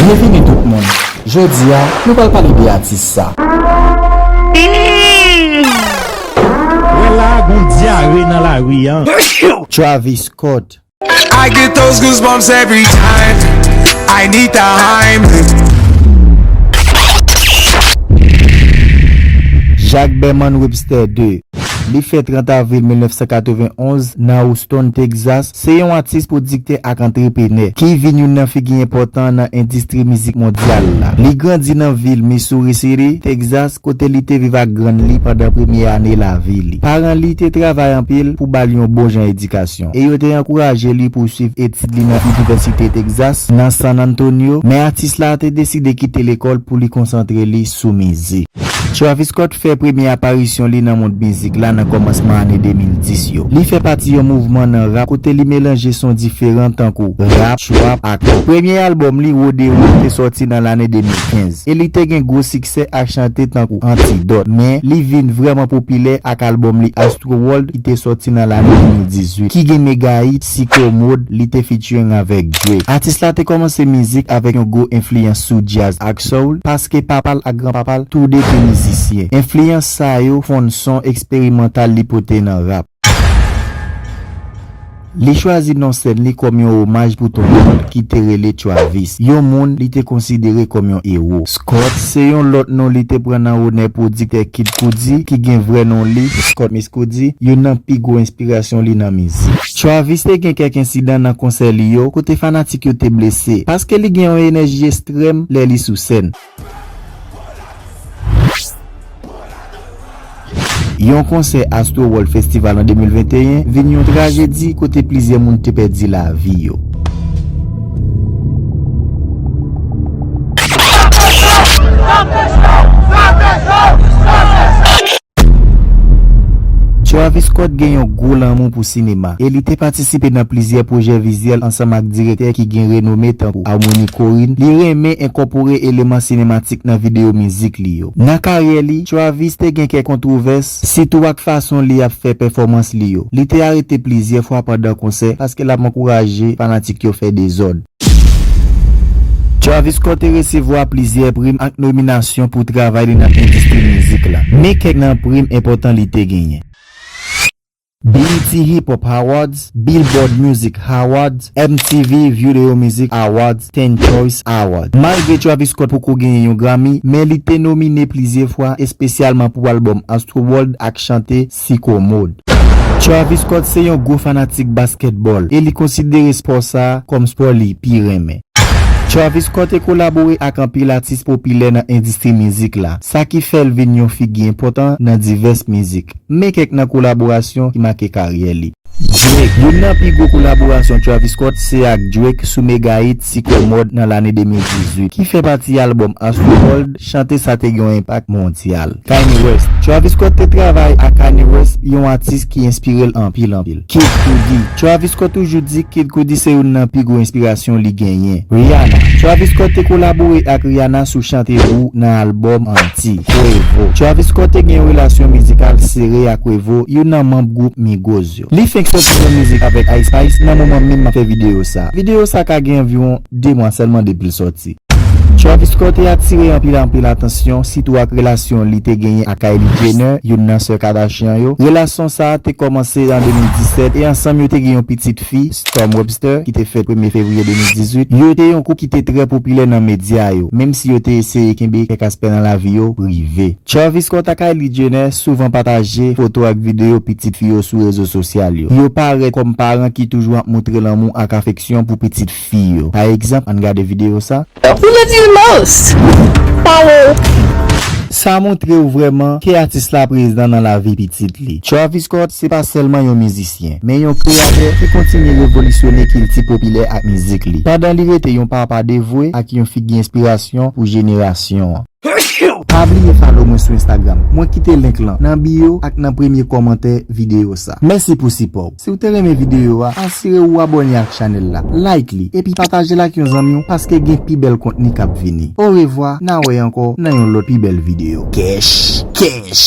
Byenvini tout moun! Jodi a, nou pral pale de atis sa. Wè la a gon dyare nan lari an. Travis Scott. I get those goosebumps every time I need the Heimlich. Jacques Berman Webster ii. Li fèt 30 avril 1991 nan Houston, Texas, Se yon atis pwodiktè ak antrepenè, ki vin youn nan figi enpòtan nan endistri mizik mondyal la. Li grandi nan vil Missouri City, Texas, kote li te viv ak grann li pandan premye ane lavi li. Paran li te travay anpil pou ba l yon bon jan edikasyon, e yo te ankouraje li pou swiv etid li nan Inivèsite Texas nan San Antonio, men atis la te deside kite lekòl pou li konsantre li sou mizik. Travis Scott fè premye aparisyon li nan mond mizik la nan kòmansman ane 2010 yo. Li fè pati yon mouvman nan rap kote li melanje son diferan tankou, rap, trap ak pop. Premye albòm li, Rodeo, te sòti nan lane 2015, e li te gen gwo siksè ak chante tankou Antidote. Men, li vin vrèman popilè ak albòm li Astroworld ki te sòti nan lane 2018, ki gen mega-hit, Ti Komod, li te featuring avèk Drake. Atis la te kòmanse mizik avèk yon gwo enfliyans sou jazz ak soul, paske papa l ak granpapa l tou de te mizisyen. Enfliyans sa yo fonn son eksperimantal li pote nan rap. Li chwazi non sèn li kòm yon omaj pou tonton l ki te rele Travis, yon moun li te konsidere kòm yon ewo. Scott, se yon lòt non li te pran nan onè pwodiktè Kid Cudi, ki gen vrè non li, Scott Mescudi, youn nan pi gwo enspirasyon li nan mizik. Travis te gen kèk ensidan nan konsè li yo kote fanatik yo te blese paske li gen yon enèji estrèm lè li sou sèn. Yon konsè Astroworld Festival an 2021 vin yon trajedi kote plizyè moun te pèdi lavi yo. Travis Scott gen yon gwo lanmou pou sinema, e li te patisipe nan plizyè pwojè vizyèl ansanm ak direktè ki gen renome tankou Harmony Korine. Li renmen enkòpore eleman sinematik nan videyo mizik li yo. Nan karyè li, Travis te gen kèk kontwovès, sitou ak fason li ap fè pèfòmans li yo. Li te arete plizyè fwa pandan konsè paske l ap ankouraje fanatik yo fè dezòd. Travis Scott te resevwa plizyè prim ak nominasyon pou travay li nan endistri mizik la. Men kèk nan prim enpòtan li te genyen. BET Hip Hop Awards, Billboard Music Awards, MTV Video Music Awards, Teen Choice Awards. Malgre Travis Scott poko genyen yon Grammy, men li te nomine plizyè fwa, espesyalman pou albòm Astroworld ak chante si komod. Travis Scott se yon gwo fanatik baskètbòl e li konsidere spò sa a kòm spò li pi renmen. Travis Scott e kolabore ak anpil atis popilè nan endistri mizik la, sa ki fè l vin yon figi enpòtan nan divès mizik. Men kèk nan kolaborasyon ki make karyè li. Drake, Youn nan pi gwo kolaborasyon Travis Scott se ak Drake sou mega hit Sikò Mòd nan lane 2018, ki fè pati albòm Astroworld, chante sa te gen yon enpak mondyal. Kanye West, Travis Scott te travay ak Kanye West, yon atis ki enspire l anpil anpil. Kid Cudi, Travis Scott toujou di Kid Cudi se youn nan pi gwo enspirasyon li genyen. Rihanna, Travis Scott te kolabore ak Rihanna sou chante Woo nan albòm an. Ayiti. Quavo. Travis Scott te gen yon relasyon mizikal sere ak Quavo, youn nan manb gwoup Migos yo. Li fenk sòti yon mizik avèk Ice Spice nan moman menm map fè videyo sa. Videyo sa ka gen anviwon 2 mwa sèlman depi l sòti. Travis Scott te atire anpil anpil atansyon, sitou ak relasyon li te genyen ak Kylie Jenner, youn nan sè Kardashian yo. Relasyon sa te kòmanse an 2017 e ansanm yo te gen yon pitit. fi, Storm Webster, ki te fèt premye fevriye 2018, yo te yon koup ki te trè popilè nan medya yo, menm si yo te eseye kenbe kèk aspè nan lavi yo prive. Travis Scott ak Kylie Jenner souvan pataje foto ak videyo pitit fi yo sou rezo sosyal yo. Yo parèt kòm paran ki toujou ap moutre lanmou ak afeksyon pou pitit fi yo. Pa egzanp, ann gade videyo sa. Ou love you most! Pa wè w. Sa montre w vrèman ke atis la prezan nan lavi pitit li. Travis Scott se pa sèlman yon mizisyen, men yon kreyatè ki kontinye revolisyone kilti popilè ak mizik li, pandan li rete yon papa devwe ak yon figi enspirasyon pou jenerasyon an. Pa bliye follow mwen sou Instagram. Mwen kite link lan nan bio ak nan premye kòmantè videyo sa. Mèsi pou sipò w. Si w te renmen videyo a, asire w ou abòne ak chanèl la, like li, epi pataje l ak yon zanmi w paske gen pi bèl kontni k ap vini. Orevwa, na wè ankò nan yon lòt pi bèl videyo. Kèch! Kèch!